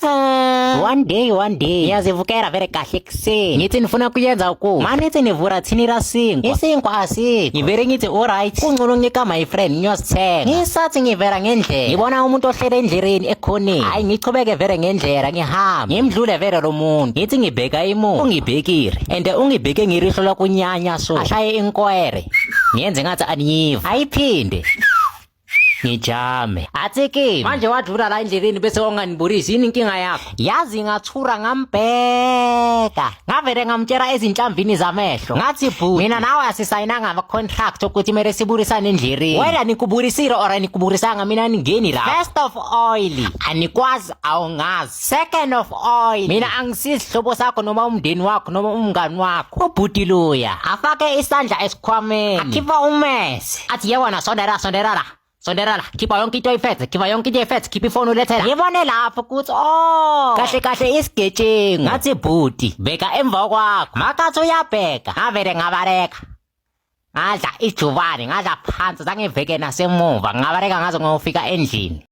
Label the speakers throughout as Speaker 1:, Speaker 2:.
Speaker 1: Mm. one day one day ngiyazivukela vele kahle ekuseni ngithi nifuna kuyenza uku mani ithi nivura thini lasinkwa isinkwa asikho ngivele ngithi alright kungcono nginika my friend ngiyosithenga ngisathi ngivela ngendlela ngibona umuntu ohlele endleleni ekhoneni hayi ngichubeke vele ngendlela ngihamba ngimdlule vele lo muntu ngithi ngibheka imuntu ungibhekile and ungibheke ngirihlo lakunyanya so ashaye inkwere ngiyenze ngathi aniyiva ayiphinde ngijame athi kimi manje wadlula la endleleni bese wanganibulisi yini inkinga yakho yazi ngathura ngambheka ngavele ngamtshela ezinhlambini zamehlo ngathi bhuti mina nawe asisayinanga ama-contract okuthi kumele sibulisane endleleni wena nikubulisile or anikubulisanga mina ningeni la first of oil anikwazi awungazi Second of all, mina angisizihlobo sakho noma umndeni wakho noma umngani wakho. Ubhuti luya afake isandla esikhwameni. Akhipha umese. Athi yewona sondera sondera la. Sondera la. Khipha yonke into ifethe, khipha yonke into ifethe, khipha ifoni ulethe la. Ngibone lapho ukuthi oh. Kahle kahle isigejengu. Ngathi bhuti, bheka emva kwakho. Makathi uyabheka. Ngavele ngabareka. Ngadla ijubane, ngadla phansi, zangiveke nasemuva. Ngabareka ngaze ngofika endlini.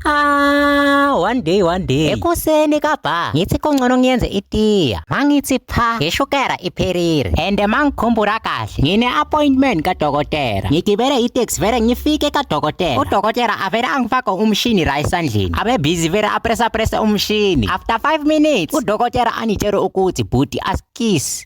Speaker 1: Ah, one day one day. Ekuseni kabha ngithi kungcono ngiyenze itiya. Mangithi pha ngeshukera ipherire. And mangikhumbula kahle ngine appointment kadokotela. Ngigibele itaxi vele ngifike kadokotela. Udokotela avele angifake umshini la esandleni. Abe busy vele apressa pressa umshini. After 5 minutes udokotela anitshela ukuthi bhuti askiss.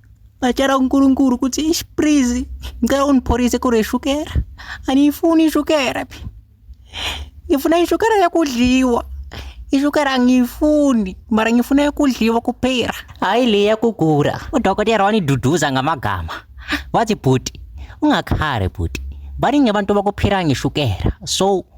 Speaker 1: Bacela uNkulunkulu ukuthi ish please ngicela ungipholise kule shukela. Angiyifuni ishukela. Ngifuna ishukela yakudliwa. Ishukela angiyifuni mara ngifuna yakudliwa kuphela. Hayi le yakugula. Udokotela waniduduza ngamagama. Wathi bhuti ungakhali bhuti. Baningi abantu bakuphila ngeshukela. So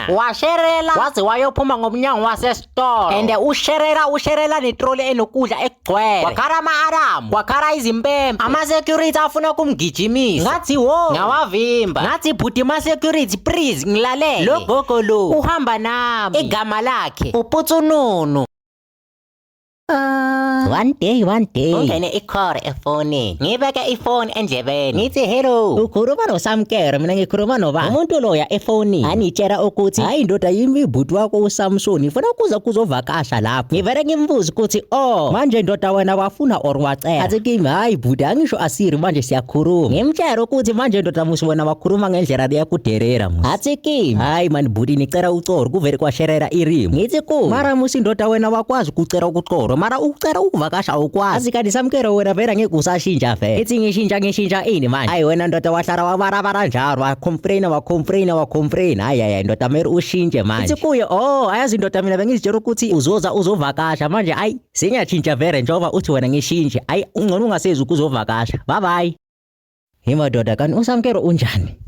Speaker 1: washerela waze wayophuma ngomnyango wasesitolo and usherela usherela netroli enokudla ekugcwele wakhala ama-aramu wakhala izimpempe ama-security afuna ukumgijimisa ngathi wo ngawavimba ngathi bhuti ma-security please ngilalele lo gogo lo uhamba nami igama lakhe uputsununu One day, one day. Kungene i-call efonini. Ngibeke ifoni endlebeni. Ngithi hello. Ukhuluma noSamkere, mina ngikhuluma nobani? Umuntu loya efonini. Anitshela ukuthi hayi ndoda yimi bhuti wakho uSamson. Ngifuna ukuza kuzovakasha lapho. Ngivele ngimbuze ukuthi oh, manje ndoda wena wafuna or wacela. Athi kimi hayi bhuti angisho asiri manje siyakhuluma. Ngimtshela ukuthi manje ndoda musi wena wakhuluma ngendlela leyakuderera. hatsi kim hayi mani bhuti nicela ucoro kuvele kwasherera irimu ngithi ku mara musi ndoda wena wakwazi ukucela ukucoro mara ukucela ukuvakasha awukwazi kanti samkelo wena vele angeke usashintsha vele ithi ngishintsha ngishintsha ini manje hayi wena ndoda wahlala wabarabara njalo wacomplaina wacomplaina wacomplaina hayi hayi ndoda meri ushintshe manje ithi kuye oh ayazi ndoda mina bengizitshela ukuthi uzoza uzovakasha manje ayi sinyatshintsha vele njengoba uthi wena ngishintshe ayi ungcono ungasezi ukuzovakasha bye bye hi madoda kanti usamkelo unjani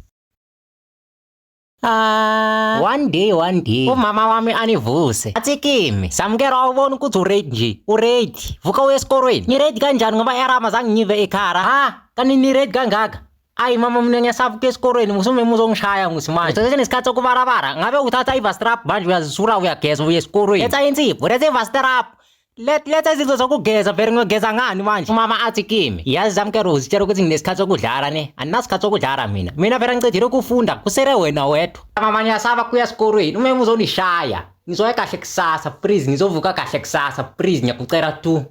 Speaker 1: Ah, one day one day umama wami anivuse athi kimi samukela awubona ukuthi uready nje uready vuka uye esikolweni niready kanjani ngoba erama zange ngive ekhara ha kanti niready kangaka ayi mama mina ngiyasavuka esikolweni musume muzongishaya ngithi manje seseshe nesikhathi sokubarabara ngabe uthatha ivastrap manje uyazisura uyageza uye esikolweni letha insipho letha ivastrap Let letha izinto zokugeza vele ngiyogeza ngani manje umama athi kimi yazi zami kero uzitshela ukuthi nginesikhathi sokudlala ne andinasikhathi sokudlala mina mina vele ngicijile ukufunda kusele wena wedwa mama ngiyasaba kuya esikolweni uma uzonishaya ngizoya kahle kusasa please ngizovuka kahle kusasa please ngiyakucela tu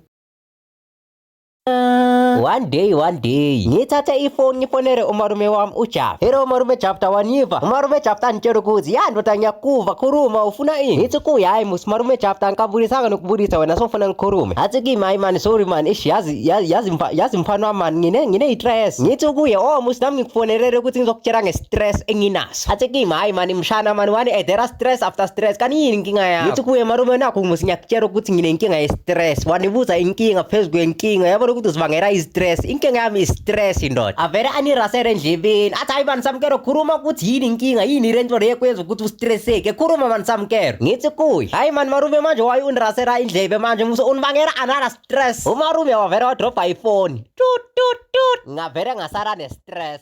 Speaker 2: one day one day ngithathe ifoni ngifonele umalume wami ujava hero umalume jafta waniva umalume jafta angitshela ukuthi ya ndoda ngiyakuva khuluma ufuna ini ngithi kuye hayi musi umalume jafta angikabulisanga nokubulisa wena sofuna ngikhulume athi kimi hayi mani sorry mani ish yazi yazi yazi mfa- yazi mfana wami mani ngine ngine istress ngithi kuye oh musi nami ngikufonelele ukuthi ngizokutshela ngestress enginaso Satsiki mhayi mani mshana mani wani eh, there are stress after stress kani yini inkinga yakho ngithi kuye malume nakho musi ngiyakutshela ukuthi nginenkinga ye-stress wanibuza inkinga phezu kwenkinga yabona ukuthi uzibangela i-stress inkinga yami i-stress ndoda avele anirasele endlebeni athi hayi mani samkelo khuluma ukuthi yini inkinga yini le nto le ekwenza ukuthi ustresseke khuluma mani samkelo ngithi kuye hayi mani malume manje waye unirasela indlebe manje musi unibangela another stress umalume wavele wadrobha ifoni tut tut tut ngavele ngasala ne-stress